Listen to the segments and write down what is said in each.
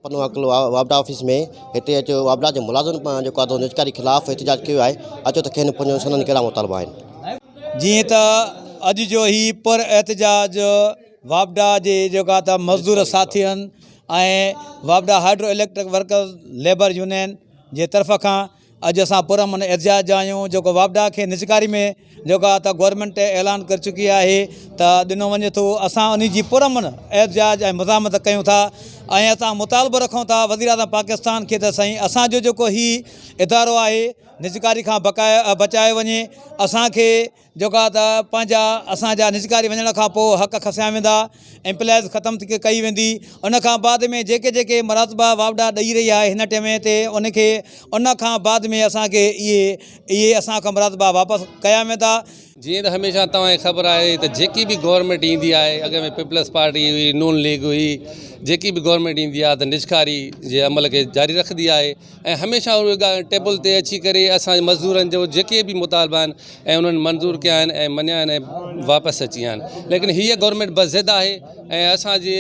پنو عقل واپڊا آفيس ۾ هتي اچو واپڊا جي ملازم پان جو قاعدو نجڪاري خلاف احتجاج ڪيو آهي اچو ته کين پنو سندن ڪهڙا مطالبا آهن. جيئن ته اڄ جو هي پر احتجاج واپڊا جي جيڪا ته مزدور ساٿين ۽ واپڊا hydro electric workers labour union جي طرف کان اڄ اسان پر امن احتجاج جا آهيون جيڪو واپڊا کي نجڪاري ۾ جيڪو آهي ته گورنمينٽ اعلان ڪري چڪي آهي ته ڏنو وڃي ٿو اسان ان جي پر امن احتجاج ۽ مزاحمت ڪيون ٿا ۽ اسان مطالبو رکون ٿا وزير اعظم پاڪستان کي ته سائين اسانجو جيڪو هي ادارو آهي نجڪاري کان بقايا بچايو وڃي اسانکي جيڪا ته پنهنجا اسان جا نجڪاري وڃڻ کان پوء حق کسيا ويندا ۽ پليز ختم ڪئي ويندي ان کان بعد ۾ جيڪي جيڪي مراتبا واوڊا ڏئي رهي آهي هن ٽئم تي ان کي ان کان بعد ۾ اسان کي اهي اهي اسان کان مراتبا واپس ڪيا ويندا. جيئن ته هميشه توهان کي خبر آهي ته جيڪي به گورنمينٽ ايندي آهي اڳ ۾ پيپلز پارٽي هئي نون ليگ هئي جيڪي به گورنمينٽ ايندي آهي ته نجڪاري جي عمل کي جاري رکندي آهي ۽ هميشه اهي ڳالهيون ٽيبل تي اچي ڪري اسان جي مزدورن جو جيڪي به مطالبا آهن ۽ انهن منظور ڪيا آهن ۽ مڃيا آهن ۽ واپس اچي ويا آهن ليڪن هيء گورنمينٽ بس ضد آهي ۽ اسان جي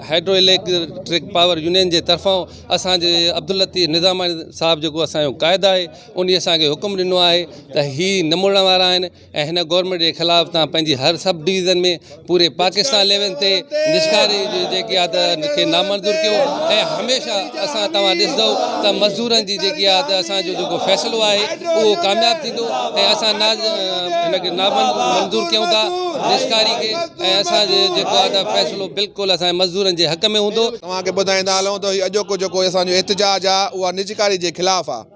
هائيڊرو اليڪٽرڪ پاور يونين جي طرفان اسان جي عبداللطيف نظاماڻي صاحب جيڪو اسان جو قائد آهي انهي اسان کي حڪم ڏنو آهي ته هي نمڙڻ وارا آهن ۽ هن گورنمينٽ جي خلاف تان پنهنجي هر سب ڊويزن ۾ پوري پاڪستان ليول تي نشڪاري جيڪي آهي ته ان کي نامنظور ڪيو ۽ هميشه اسان توهان ڏسندو ته مزدورن جي جيڪي آهي ته اسان جو جيڪو فيصلو آهي اهو ڪامياب ٿيندو ۽ اسان ان کي نامنظور ڪيون ٿا نشڪاري کي ۽ اسان جو جيڪو آهي ته فيصلو بلڪل اسان مزدورن جي حق ۾ هوندو توهان کي ٻڌائيندا هلون ته هي اڄوڪو جيڪو اسان جو احتجاج آهي اها نجڪاري جي خلاف آهي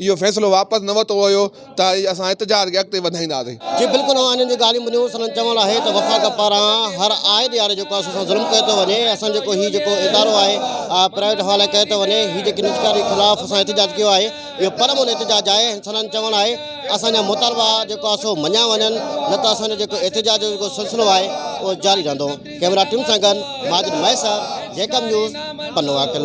اهو فيصلو واپس نه ورتو ويو ته اسان احتجاج کي اڳتي وڌائينداسين. جي بلڪل اوهان انهن جون ڳالهيون ٻڌيون، سندن چوڻ آهي ته وفاق پاران هر آئي ڏياري جيڪو اسان سان ظلم ڪيو ٿو وڃي، اسان جيڪو هي جيڪو ادارو آهي پرائيويٽ حوالي ڪيو ٿو وڃي، هي جيڪي نجڪاري خلاف اسان احتجاج ڪيو آهي، اهو پرامن احتجاج آهي، سندن چوڻ آهي اسان جا مطالبا جيڪو آهي سو مڃيا وڃن نه ته اسان جو جيڪو احتجاج جو جيڪو سلسلو آهي اهو جاري رهندو، ڪئميرا ٽيم سان گڏ ماجد مهيسر، جيڪب نيوز، پنو عاقل.